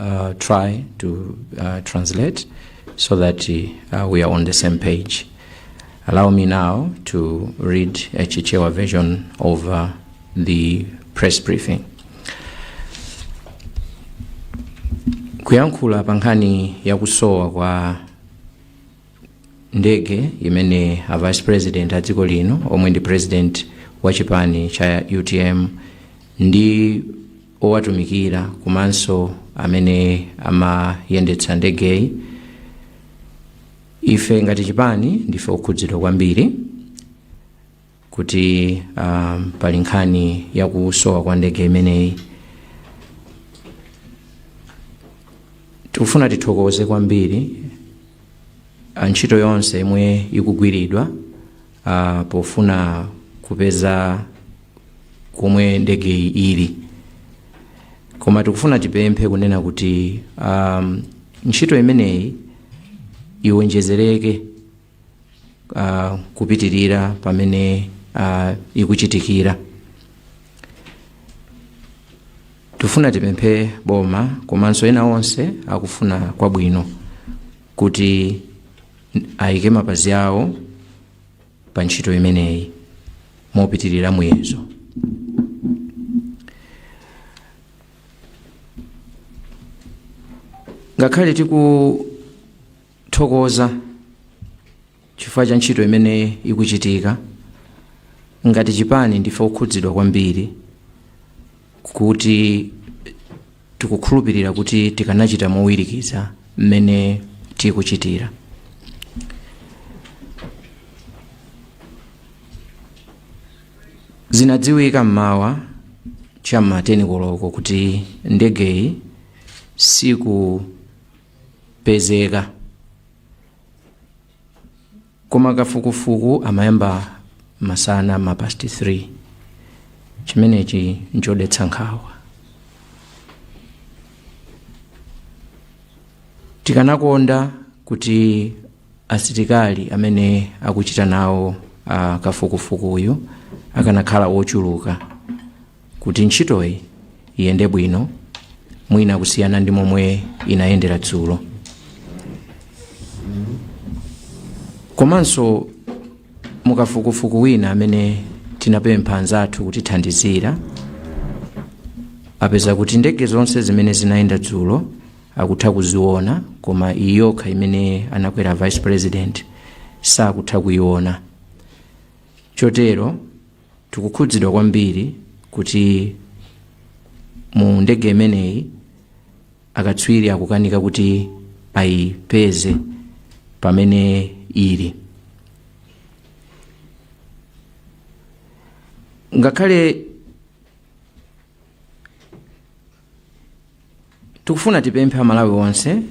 will try to uh, translate so that uh, we are on the same page. Allow me now to read a Chichewa version of uh, the press briefing. kuyankhula pa nkhani ya kusowa kwa ndege imene a vice president a dziko lino omwe ndi president wa chipani cha utm ndi owatumikira komanso amene amayendetsa ndegeyi ife ngati chipani ndife okhudzidwa kwambiri kuti uh, pali nkhani ya kusowa kwa ndege imeneyi tikufuna tithokoze kwambiri ntchito yonse yomwe ikugwiridwa uh, pofuna kupeza komwe ndegeyi ili koma tikufuna tipemphe kunena kuti um, ntchito imeneyi iwonjezereke uh, kupitirira pamene uh, ikuchitikira tifuna tipemphe boma komanso ena onse akufuna kwabwino kuti ayike mapazi awo pa ntchito imeneyi mopitirira muyezo ngakhale tikuthokoza Chifukwa cha ntchito imene ikuchitika, ngati chipani ndife okhudzidwa kwambiri kuti tikukhulupirira kuti tikanachita mowirikiza mmene tikuchitira. Zinadziwika m'mawa cha m'ma 10 koloko kuti ndegeyi sikupezeka. koma kafukufuku amayamba masana ma past 3 chimenechi nchodetsa nkhawa tikanakonda kuti asilikali amene akuchita nawo uh, kafukufukuyu akanakhala ochuluka Kuti ntchitoyi iyende bwino mwina kusiyana ndi momwe inayendera dzulo komanso mukafukufuku wina amene tinapempha anzathu kutithandizira apeza kuti ndege zonse zimene zinayenda dzulo akutha kuziona koma iyi yokha imene anakwera vice president sakutha kuiona chotero Tikukhudzidwa kwambiri kuti mu ndege imeneyi akatswiri akukanika kuti ayipeze pamene ili. Ngakhale Tikufuna tipemphe a Malawi onse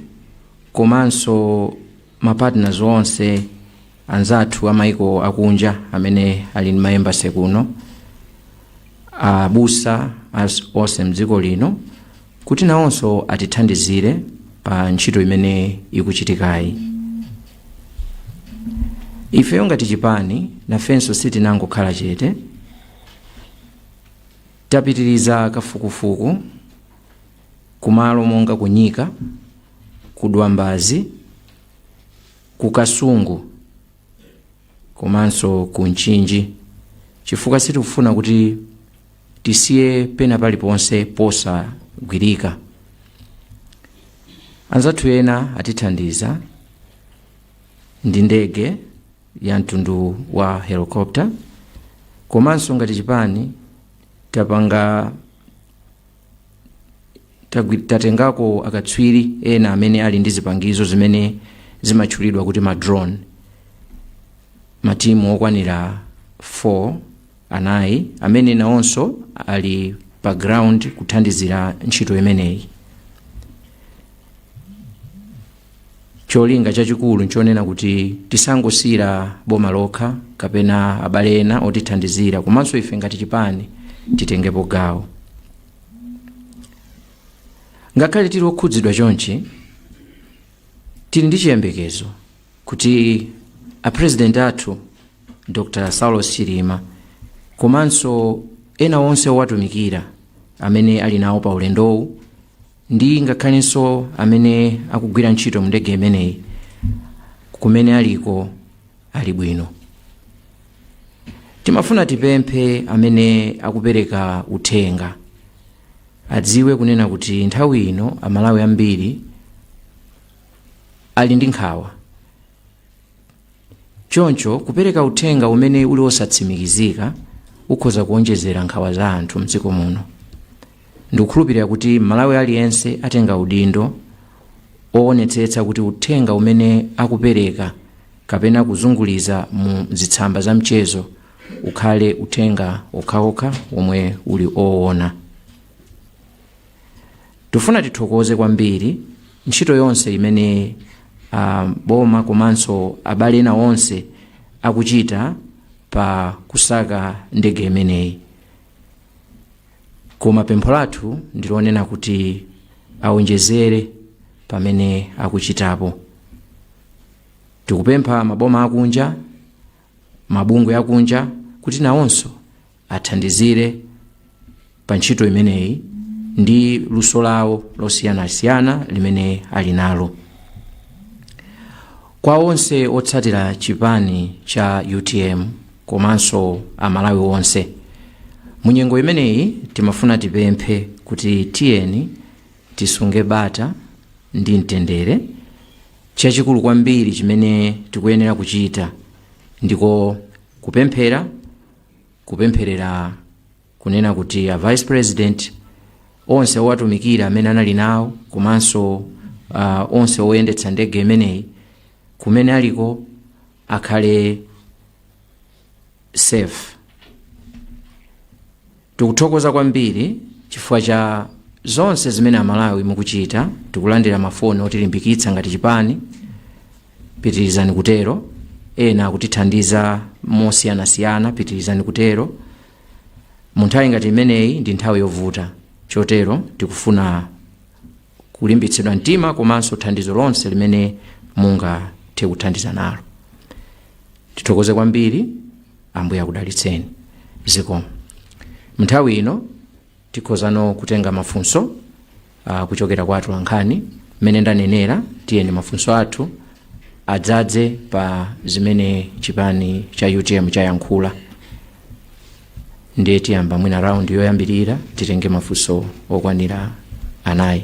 komanso ma partners onse anzathu a maiko akunja amene ali ndi ma embassy kuno, abusa onse mdziko lino kuti nawonso atithandizire pa ntchito imene ikuchitikayi. Ifeyo ngati chipani nafenso sitinangokhala chete, tapitiriza kafukufuku, kumalo monga ku Nyika, ku Dwambazi, ku Kasungu komanso ku Mchinji chifukwa sitikufuna kuti tisiye pena paliponse posagwirika. Anzathu ena atithandiza ndi ndege ya mtundu wa helicopter komanso ngati chipani tapanga Tatengako akatswiri ena amene ali ndi zipangizo zimene zimatchulidwa kuti ma drone matimu okwanira 4 anayi amene nawonso ali pa ground kuthandizira ntchito imeneyi Cholinga chachikulu nchonena kuti tisangosiira boma lokha kapena abale ena otithandizira komanso ife ngati chipani titengepo gawo. Ngakhale tili okhudzidwa chonchi, tili ndi chiyembekezo kuti a President athu Dr. Saulos Chilima komanso ena onse owatumikira amene ali nawo pa ulendowu ndi ngakhalenso amene akugwira ntchito mu ndege imeneyi kumene aliko ali bwino timafuna tipemphe amene akupereka uthenga adziwe kunena kuti nthawi ino amalawi ambiri ali ndi nkhawa Choncho, kupereka uthenga umene uli wosatsimikizika ukhoza kuwonjezera nkhawa za anthu m'dziko muno. Ndikukhulupirira kuti Mmalawi aliyense atenga udindo owonetsetsa kuti uthenga umene akupereka kapena kuzunguliza mu masamba a mchezo ukhale uthenga okhaokha womwe uli owona. Tifuna tithokoze kwambiri ntchito yonse imene uh, boma komanso abale ena onse akuchita pa kusaka ndege imeneyi koma pempho lathu ndilonena kuti awonjezere pamene akuchitapo tikupempha maboma akunja mabungwe akunja kuti nawonso athandizire pa ntchito imeneyi ndi luso lawo losiyanasiyana limene ali nalo kwa onse otsatira chipani cha utm komanso amalawi onse munyengo imeneyi timafuna tipemphe kuti tiyeni Tisunge bata ndi mtendere. Chachikulu kwambiri chimene tikuyenera kuchita ndiko kupemphera, kupempherera kunena kuti a vice president onse owatumikira amene anali nawo komanso uh, onse oyendetsa ndege imeneyi kumene aliko akhale safe Tikuthokoza kwambiri chifukwa cha zonse zimene amalawi mukuchita tikulandira mafoni otilimbikitsa ngati chipani pitirizani kutero ena akutithandiza mosiyanasiyana pitirizani kutero mu nthawi ngati imeneyi ndi nthawi yovuta chotero tikufuna kulimbitsidwa mtima komanso thandizo lonse limene mungathe kuthandiza nalo tithokoze kwambiri ambuye akudalitseni zikomo mnthawi ino tikhozano kutenga mafunso uh, kuchokera kwa atolankhani mmene ndanenera tiyeni mafunso athu adzadze pa zimene chipani cha utm chayankhula ndiye tiyamba mwina raundi yoyambirira titenge mafunso okwanira anayi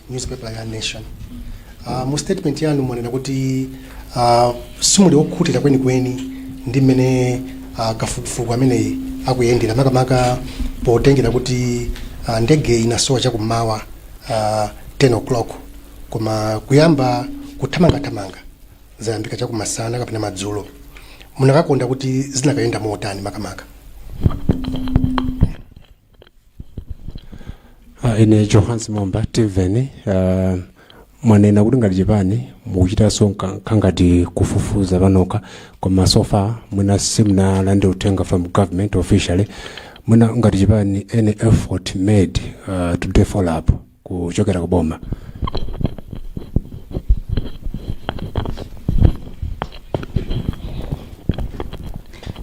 newspaper ya nation uh, mu statement yanu mwanena kuti uh, simuli okhutira kwenikweni ndi mmene uh, kafukufuku ameneyi akuyendera makamaka potengera kuti uh, ndege inasowa chakummawa uh, 10 o'clock koma kuyamba kuthamangathamanga zayambika chakumasana kapena madzulo munakakonda kuti zinakayenda motani makamaka Ah, ine johannes momba timveni ah, mwanena kuti ngati chipani mukuchitanso kangati kufufuza panokha koma so far mwina simunalandire uthenga from government officially mwina ngati chipani any effort made ah, to follow up kuchokera ku boma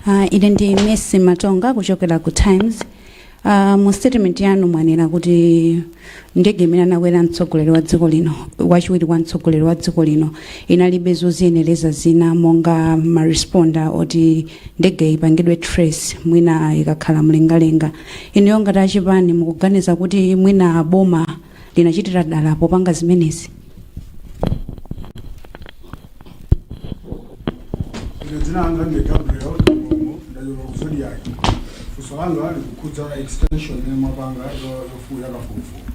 Uh, ine ndi Mercy Matonga kuchokera ku Times. Uh, mu statement yanu mwanena kuti ndege imene anakwera mtsogoleri wa dziko lino wachiwiri kwa mtsogoleri wa dziko lino inalibe zoziyenereza zina monga ma transponder oti ndege ipangidwe trace mwina ikakhala mlengalenga Inuyo ngati a chipani mukuganiza kuti mwina boma linachitira dala popanga zimenezi? Ine dzina langa ndi Gabriel Kamlomo ndachokera ku Zodiak. Funso langa likukhudza extension imene mwapanga yo- yofu- yakafukufuku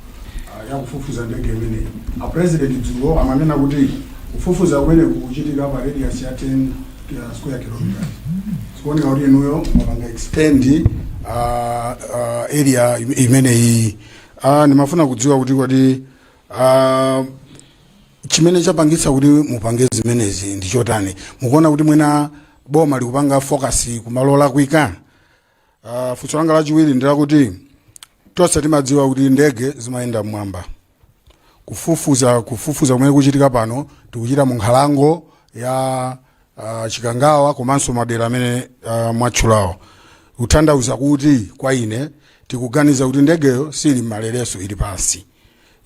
ah, yakufufuza ndege imeneyi. A president dzulo amanena kuti kufufuza kumeneku kuchitika pa radius ya 10 ya square kilometers zikuoneka kuti inuyo mwapanga extend uh, uh, area im- imeneyi uh, ndimafuna kudziwa kuti kodi uh, chimene chapangitsa kuti mupange zimenezi ndi chotani mukuona kuti mwina boma likupanga focus kumalo olakwika Uh, funso langa lachiwiri ndi lakuti tonse timadziwa kuti ndege zimayenda mmwamba kufufuza kufufuza kumene kuchitika pano tikuchita mu nkhalango ya uh, Chikangawa komanso madera amene uh, mwatchulawo kutanthauza kuti kwa ine tikuganiza kuti ndegeyo siili m'malereso ili pansi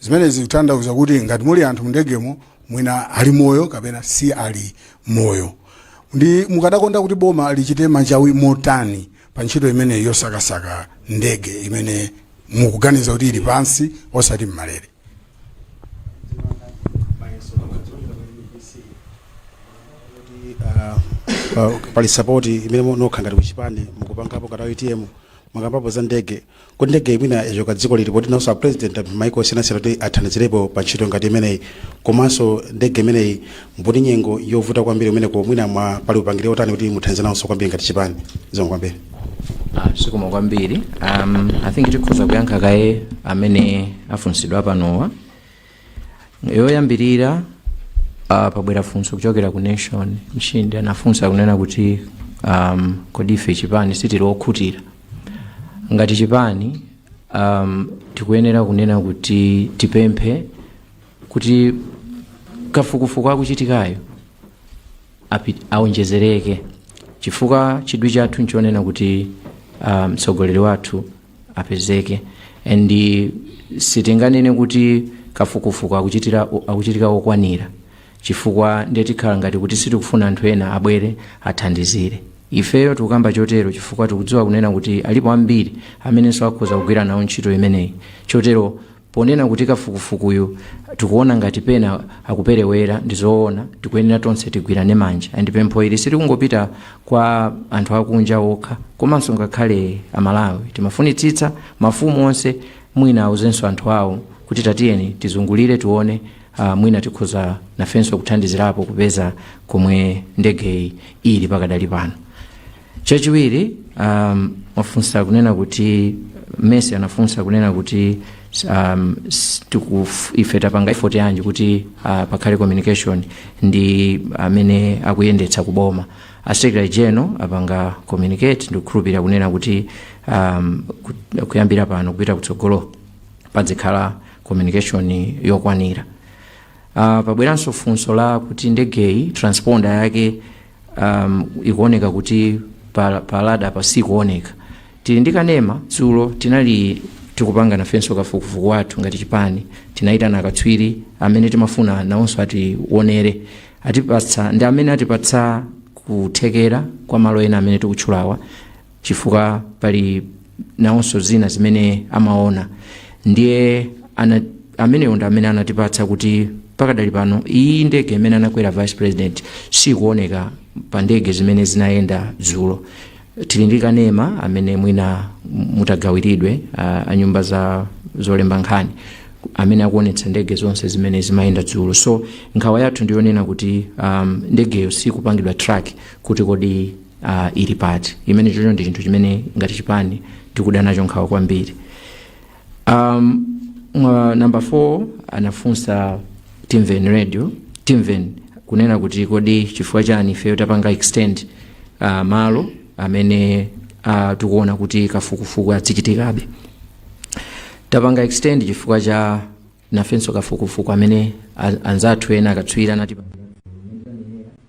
zimenezi zikutanthauza kuti ngati muli anthu mndegemo mwina ali moyo kapena si ali moyo ndiye mukadakonda kuti boma lichite machawi motani pa ntchito imeneyi yosakasaka ndege imene mukuganiza kuti ili pansi osati mmalere pali sapoti imene inu nokha ngati kuchipani mukupangapo ngati UTM mwakambapo za ndege kuti ndege mwina yachoka dziko lino poti nawonso apresident apempha maiko osiyanasiyana kuti athandizirepo pa ntchito ngati imeneyi komanso ndege imeneyi muli nyengo yovuta kwambiri imeneyo mwina mwa pali upangiri otani kuti muthandize nawonso kwambiri ngati chipani zikomo kwambiri Ah, zikomo kwambiri um, i think tikhoza kuyankha kaye amene afunsidwa panowa yoyambirira uh, pabwera funso kuchokera ku Nation Mchindi anafunsa kunena kuti um, kodi ife chipani sitili okhutira ngati chipani um, tikuyenera kunena kuti tipemphe kuti kafukufuku akuchitikayo api- aonjezereke chifukwa chidwi chathu nchonena kuti ah, mtsogoleri wathu apezeke and sitinganene kuti kafukufuku akuchitika okwanira chifukwa ndiye tikhala ngati kuti sitikufuna anthu ena abwere athandizire ifeyo tikukamba chotero chifukwa tikudziwa kunena kuti alipo ambiri amenenso akhoza kugwira nawo ntchito imeneyi chotero Ponena kuti kafukufukuyu tikuona ngati pena akuperewera ndizoona tikuyenera tonse tigwirane manja and pempho ili silikungopita kwa anthu akunja okha komanso ngakhale aMalawi timafunitsitsa mafumu onse mwina auzenso anthu awo kuti tatiyeni tizungulire tione uh, mwina tikhoza nafenso kuthandizirapo kupeza komwe ndegeyi ili pakadali pano chachiwiri um, anafunsa kunena kuti Mercy anafunsa kunena kuti um, s- tikuf- ife tapanga effort yanji kuti uh, pakhale communication ndi amene akuyendetsa kuboma a secretary general apanga communicate ndikukhulupirira kunena kuti um, ku- kuyambira pano kupita kutsogolo padzikhala communication yokwanira uh, pabweranso funso la kuti ndegeyi transponder yake um, ikuoneka kuti pa, pa radar apa sikuoneka tili ndi kanema dzulo tinali tikupanga nafenso kafukufuku wathu ngati chipani tinayitana akatswiri amene timafuna nawonso atiwonere atipatsa ndi amene atipatsa kuthekera kwa malo ena amene tikutchulawa chifukwa pali nawonso zina zimene amaona ndiye ana, amenewo ndi amene anatipatsa kuti pakadali pano iyi ndege imene anakwera vice president sikuoneka pa ndege zimene zinayenda dzulo tili ndi kanema amene mwina mutagawiridwa uh, a nyumba za zolemba nkhani amene akuonetsa ndege zonse zimene zimayenda dzulo so nkhawa yathu ndiyonena kuti um, ndegeyo sikupangidwa track kuti kodi uh, ili pati imene chocho ndi chinthu chimene ngati chipani tikuda nacho nkhawa kwambiri um, mwa number 4 anafunsa Timveni radio Timveni kunena kuti kodi chifukwa chani ifeyo tapanga extend uh, malo amene uh, tikuona kuti kafukufuku azichitikabe tapanga extend chifukwa cha nafenso kafukufuku amene a- anzathu ena akatswiri anati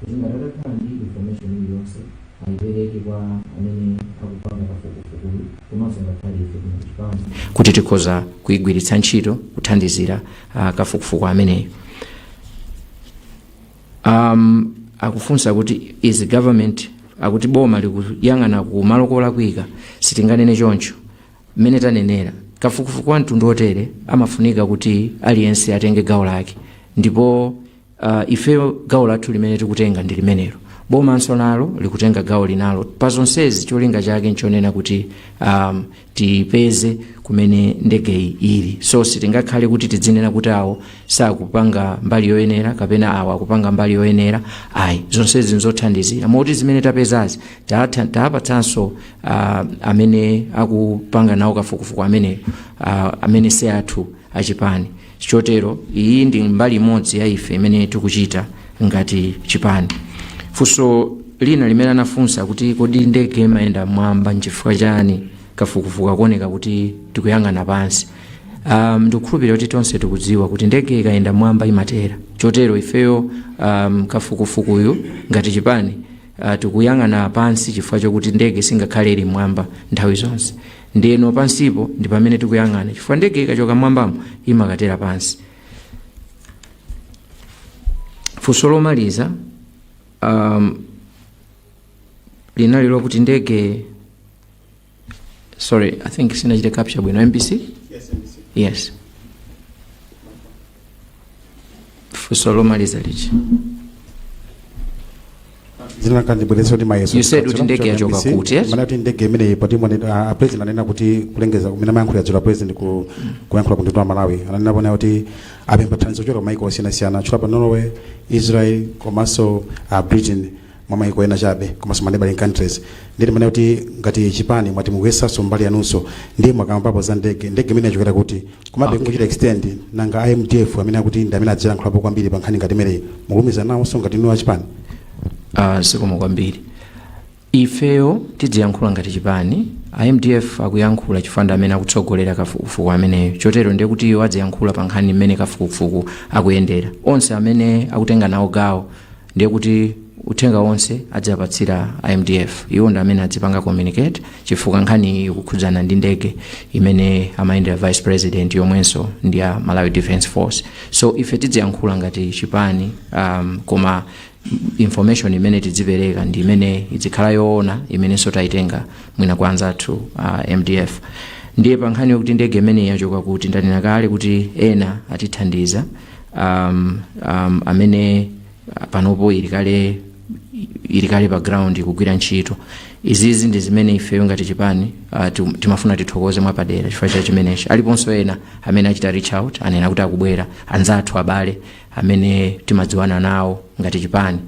kuti ngati atakhala ndi information iliyonse ayipereke kwa amene akupanga kafukufukuyu komanso ngakhale ife kuno kuchipani kuti tikhoza kuyigwiritsa ntchito kuthandizira uh, kafukufuku ameneyo um, akufunsa kuti is government akuti boma likuyang'ana ku malo kolakwika sitinganene choncho mmene tanenera kafukufuku wa mtundu otere amafunika kuti aliyense atenge gawo lake ndipo Uh, ifeyo gawo lathu limene tikutenga ndi limenelo bomanso nalo likutenga gawo linalo pa zonsezi cholinga chake nchonena kuti um, tipeze kumene ndegeyi ili so sitingakhale kuti tidzinena kuti awo sakupanga mbali yoyenera kapena awo akupanga mbali yoyenera ayi zonsezi nzothandizira moti zimene tapezazi taatha- taapatsanso uh, amene akupanga nawo kafukufuku ameneyo uh, amene si athu achipani Chotero iyi ndi mbali imodzi ya ife imene tikuchita ngati chipani. Funso lina limene anafunsa kuti kodi ndege imayenda mmwamba nchifukwa chani kafukufuku akuoneka kuti tikuyang'ana pansi. Um, ndikukhulupirira kuti tonse tikudziwa kuti ndege ikayenda mmwamba imatera. Chotero ifeyo um, kafukufukuyu ngati chipani uh, tikuyang'ana pansi chifukwa chokuti ndege singakhale ili mmwamba nthawi zonse. ndeno pansipo ndi pamene tikuyang'ana chifukwa ndege ikachoka mwambamo imakatera pansi funso lomaliza um, linali lokuti ndege sorry i think sinachite capture bwino mbc yes funso lomaliza lichi zina kanjibweresa kuti mayeso You said kuti ndege yachoka kuti, yes? mana kuti ndege imeneyi poti mwene- ah, ah, president ananena kuti kulengeza kumene amayankhulira dzulo president ku kuyankhula ku mtundu wa malawi ananena poyera kuti apempha thandizo kuchokera kumaiko osiyanasiyana anatchulapo norway israel komanso ah, britain mwa maiko ena chabe komanso ma neighboring countries ndimati mwina kuti ngati chipani mwati mukuyesanso mbali yanunso ndiye mwakambapo za ndege ndege imene yachokera kuti komabe Okay. ngochita extend nanga a mdf amene akuti ndi amene adzilankhulapo kwambiri pa nkhani ngati imeneyi mukulumikizana nawonso ngati inu achipani uh, zikomo kwambiri ifeyo tidziyankhula ngati chipani a mdf akuyankhula chifukwa ndi amene akutsogolera kafukufuku ameneyo chotero ndiye kuti iwo adziyankhula pa nkhani imene kafukufuku akuyendera onse amene akutenga nawo gawo ndiye kuti uthenga wonse adziapatsira a mdf iwo ndi amene adzipanga communicate chifukwa nkhani iyi ikukhudzana ndi ndege imene amayendera vice president yomwenso ndi ya malawi defence force so ife tidziyankhula ngati chipani um, koma information imene tidzipereka ndi imene idzikhala yoona imenenso tayitenga mwina kwa anzathu uh, mdf ndiye pa nkhani yokuti ndege imeneyi yachoka kuti ndanena kale kuti ena atithandiza um, um, amene uh, panopo ili kale ili kale pa ground kugwira ntchito izizi ndi zimene ifeyo ngati chipani uh, tim- timafuna tithokoze mwapadera chifukwa cha chimenechi aliponso ena amene achita reach out anena kuti akubwera anzathu abale amene timadziwana nawo ngati chipani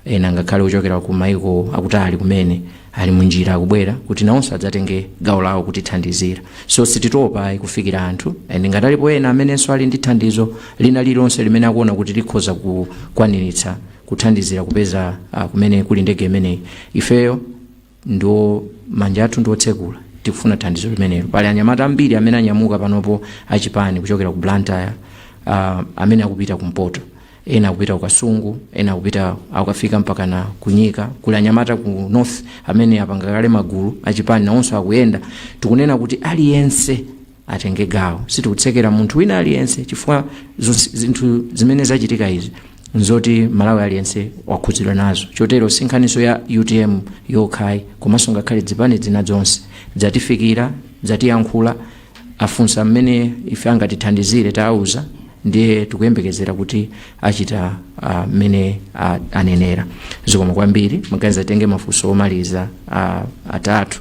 Ena, ngakhale ochokera ku maiko akutali kumene, ali munjira akubwera kuti nawonso adzatenge gawo lawo kutithandizira. So sititopa ayi kufikira anthu and ngati alipo ena amenenso ali ndi thandizo lina lililonse limene akuona kuti likhoza kukwaniritsa kuthandizira kupeza ah, kumene kuli ndege imeneyi, ifeyo Ndiye manja athu ndi otsekula. Tikufuna thandizo limenelo. Pali anyamata ambiri amene anyamuka panopo a chipani kuchokera ku Blantyre, uh, amene akupita kumpoto, ena akupita ku Kasungu, ena akupita akukafika mpakana ku Nyika. Kuli anyamata ku north amene apanga kale magulu a chipani, nawonso akuyenda. Tikunena kuti aliyense atenge gawo sitikutsekera munthu wina aliyense chifukwa zonse- zinthu zimene zachitika izi nzoti mmalawi aliyense wakhudzidwa nazo chotero si nkhaninso ya utm yokha ayi komanso ngakhale zipani zina zonse zatifikira zatiyankhula afunsa mmene ife angatithandizire tawauza ndiye tikuyembekezera kuti achita ah, mmene ah, anenera zikomo kwambiri mwaganiza titenge mafunso omaliza ah, atatu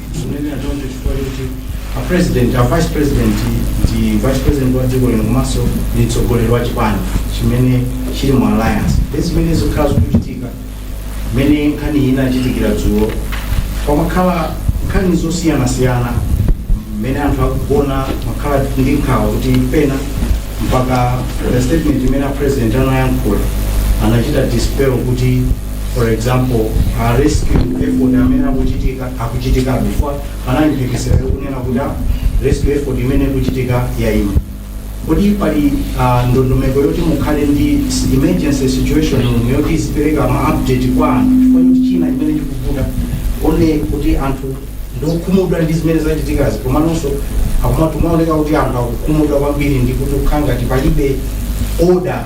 Ndikunena choncho chifukwa choti a president a vice president ndi vice president wa dziko lino komanso ndi mtsogoleri wa chipani chimene chili mu alliance ndi zimene zakhala zikuchitika mmene nkhani iyi inachitikira dzulo panakhala nkhani zosiyanasiyana mmene anthu akugona amakhala ndi nkhawa kuti pena mpaka the statement imene a president anayankhula anachita dispel kuti for example a rescue effort amene akuchitika akuchitika before panali mphekesera yokunena kuti ah, rescue effort imene ikuchitika yaima kodi pali ah, ndondomeko yoti mukhale ndi s- emergency situation room yoti izipereka ma update kwa anthu chifukwa choti china chimene chikuvuta one kuti anthu ndiokhumudwa ndi zimene zachitikazi komanso zikumaoneka kuti anthu akukhumudwa kwambiri ndi kuti kukhala ngati palibe order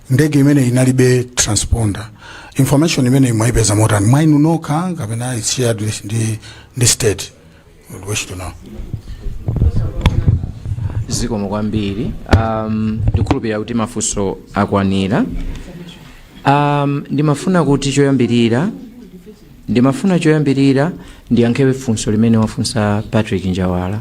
ndege imene inalibe transponder information imeneyi mwaipeza motani mwa inu nokha kapena it's shared with ndi, ndi state Would wish to know zikomo kwambiri um, ndikhulupirira kuti mafunso akwanira um, ndimafuna kuti choyambirira ndimafuna choyambirira ndiyankhe funso limene wafunsa patrick njawala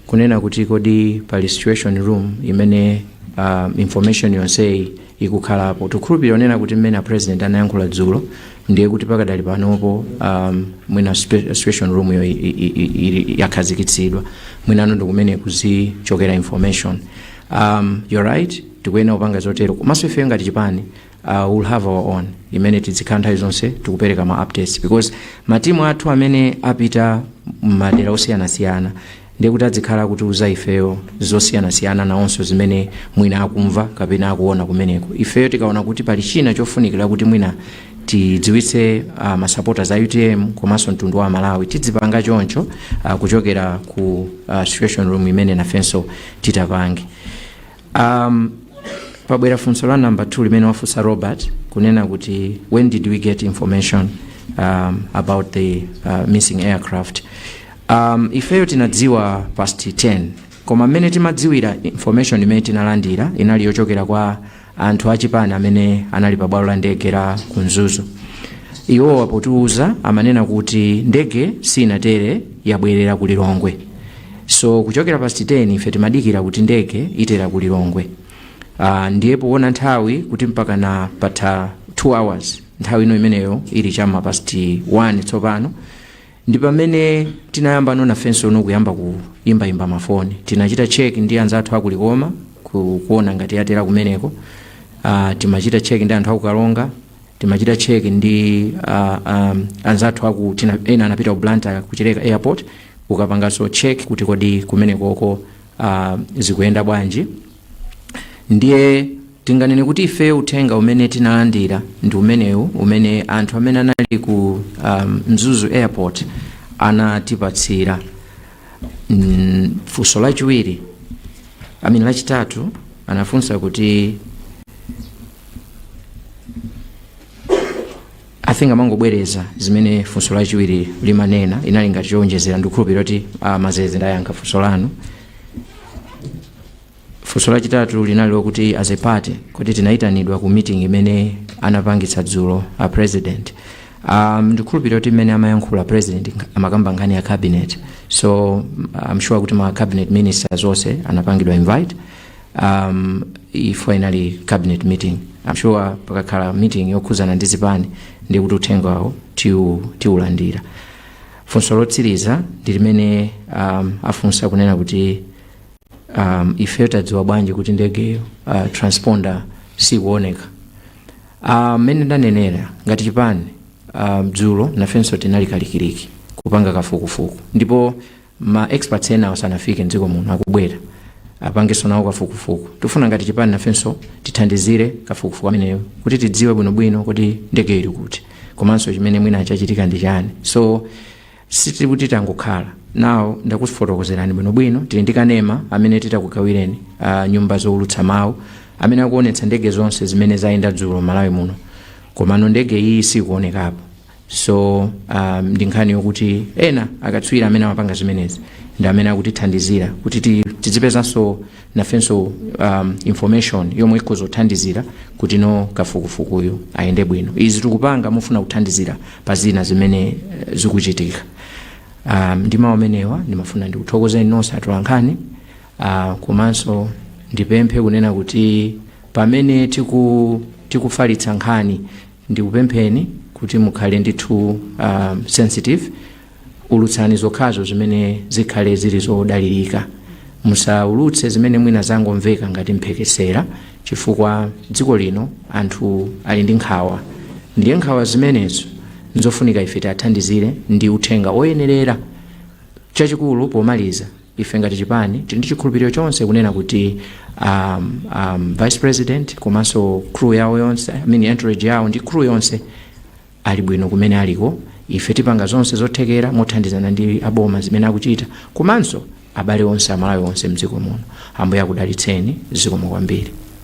kunena kuti kodi pali situation room imene uh, information yonseyi ikukhalapo tikukhulupirira kunena kuti mmene a president anayankhula dzulo ndiye kuti pakadali panopo um, mwina spe- situation room yo i- i- i- ili- yakhazikitsidwa mwinanso ndi kumene kuzichokera information um, you're right tikuyenera kupanga zotero komanso ifeyo ngati chipani uh, we'll have our own imene tidzikhala nthawi zonse tikupereka ma updates because matimu athu amene apita madera osiyanasiyana ndiye kuti adzikhala akutiuza ifeyo zosiyanasiyana nawonso zimene mwina akumva kapena akuona kumeneko ifeyo tikaona kuti pali china chofunikira kuti mwina tidziwitse uh, masapota a utm komanso mtundu wa malawi tidzipanga choncho uh, kuchokera ku uh, situation room imene nafenso titapange um, pabwera funso la namba 2 limene wafunsa robert kunena kuti when did we get information um, about the uh, missing aircraft um, ifeyo tinadziwa past 10 koma mmene timadziwira information imene tinalandira inali yochokera kwa anthu achipani amene anali pa bwalo la ndege la kunzuzu iwowa potiuza amanena kuti ndege sinatere yabwerera ku lilongwe So kuchokera past 10 ife timadikira kuti ndege itera ku Lilongwe. Uh, ndiye poona nthawi kuti mpakana patha 2 hours nthawi ino imeneyo ili chama past 1 tsopano ndi pamene tinayambano nafensono kuyamba kuimbaimba mafoni tinachita check ndi anzathu aku likoma ku, kuona ngati yatera kumeneko uh, timachita check ndi anthu aku karonga timachita check ndi uh, um, anzathu aku tina ena anapita ku Blantyre ku Chileka airport kukapanganso check kuti kodi kumenekoko uh, zikuyenda bwanji ndiye tinganene kuti ife uthenga umene tinalandira ndi umenewu umene anthu amene anali ku um, mzuzu airport anatipatsira mm, funso lachiwiri amene lachitatu anafunsa kuti i think amangobwereza zimene funso lachiwiri limanena inali ngati chowonjezera ndikukhulupirira kuti uh, mazeze ndayankha funso lanu funso lachitatu linali lokuti as a party kuti tinayitanidwa ku meeting imene anapangitsa dzulo a president um, ndikhulupirira kuti mmene amayankhula president amakamba nkhani ya cabinet so i'm sure kuti ma cabinet ministers onse anapangidwa invite um, ifwa inali cabinet meeting I'm sure pakakhala meeting yokhuzana ndi zipani ndiye kuti uthenga wawo tiu- tiulandira funso lotsiriza ndi limene um, afunsa kunena kuti um, ife tadziwa bwanji kuti ndegeyo uh, transponder sikuoneka Ah, mmene ndanenera ngati chipani ah, dzulo nafenso tinali kalikiliki kupanga kafukufuku ndipo ma experts ena osanafike mdziko muno akubwera apangenso nawo kafukufuku tifuna ngati chipani nafenso tithandizire kafukufuku ameneyo kuti tidziwe bwinobwino kuti ndege ili kuti komanso chimene mwina chachitika ndi chani so sitili kuti tangokhala nawo ndakufotokozerani bwinobwino tili ndi kanema amene titakugawireni uh, nyumba zowulutsa mawu amene akuonetsa ndege zonse zimene zayenda dzulo malawi muno komano ndege iyi sikuonekapo so um, ndi nkhani yokuti ena akatswiri amene amapanga zimenezi ndi amene akutithandizira kuti ti- tidzipezanso nafenso um, information yomwe ikhoza kuthandizira kuti no kafukufukuyu ayende bwino izi tikupanga pofuna kuthandizira pa zina zimene eh, zikuchitika um, ndi mawu amenewa ndimafuna ndikuthokozeni nonse atolankhani uh, komanso ndipemphe kunena kuti pamene tiku, tikufalitsa nkhani Ndikupempheni kuti mukhale ndithu sensitive, ulutsani zokhazo zimene zikhale zili zodalirika. Musaulutse zimene mwina zangomveka ngati mphekesera chifukwa dziko lino anthu ali ndi nkhawa ndiye nkhawa zimenezo nzofunika ife tiwathandizire ndi uthenga oyenerera. Chachikulu pomaliza. Ife ngati chipani tili ndi chikhulupiliro chonse kunena kuti um, um, vice president komanso crew yawo yonse I mean entourage yawo ndi crew yonse ali bwino kumene aliko ife tipanga zonse zothekera mothandizana ndi aboma zimene akuchita komanso abale onse amalawi onse mdziko muno ambuye akudalitseni zikomo kwambiri